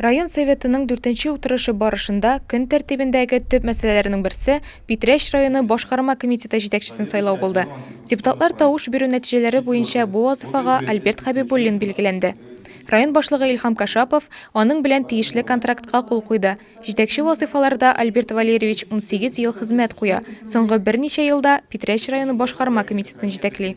Район Советының дүртенче утырышы барышында көн тәртибендәге төп мәсьәләләрнең берсе Питрәч районы башкарма комитеты җитәкчесен сайлау булды. Депутатлар тавыш бирү нәтиҗәләре буенча бу вазыйфага Альберт Хәбибуллин билгеләнде. Район башлыгы Илһам Кашапов аның белән тиешле контрактка кул куйды. Җитәкче вазыйфаларда Альберт Валерьевич унсигез ел хезмәт куя, соңгы берничә елда Питрәч районы башкарма комитетын җитәкли.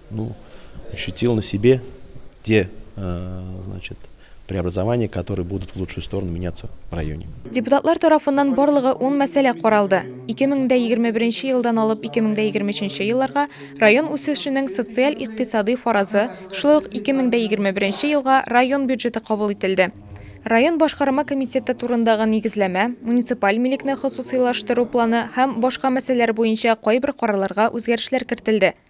Ну, ощутил на себе те, э, значит, преобразования, которые будут в лучшую сторону меняться в районе. Депутатлар тарафыннан барлыгы 10 мәсьәлә каралды. 2021 елдан алып 2023 елларга район үсешенең социаль-икътисадый фаразы, шулай ук 2021 елга район бюджеты кабул ителде. Район башкарма комитеты турындагы нигезләмә, муниципаль милекне хосусыйлаштыру планы һәм башка мәсьәләләр буенча кайбер карарларга үзгәрешләр кертелде.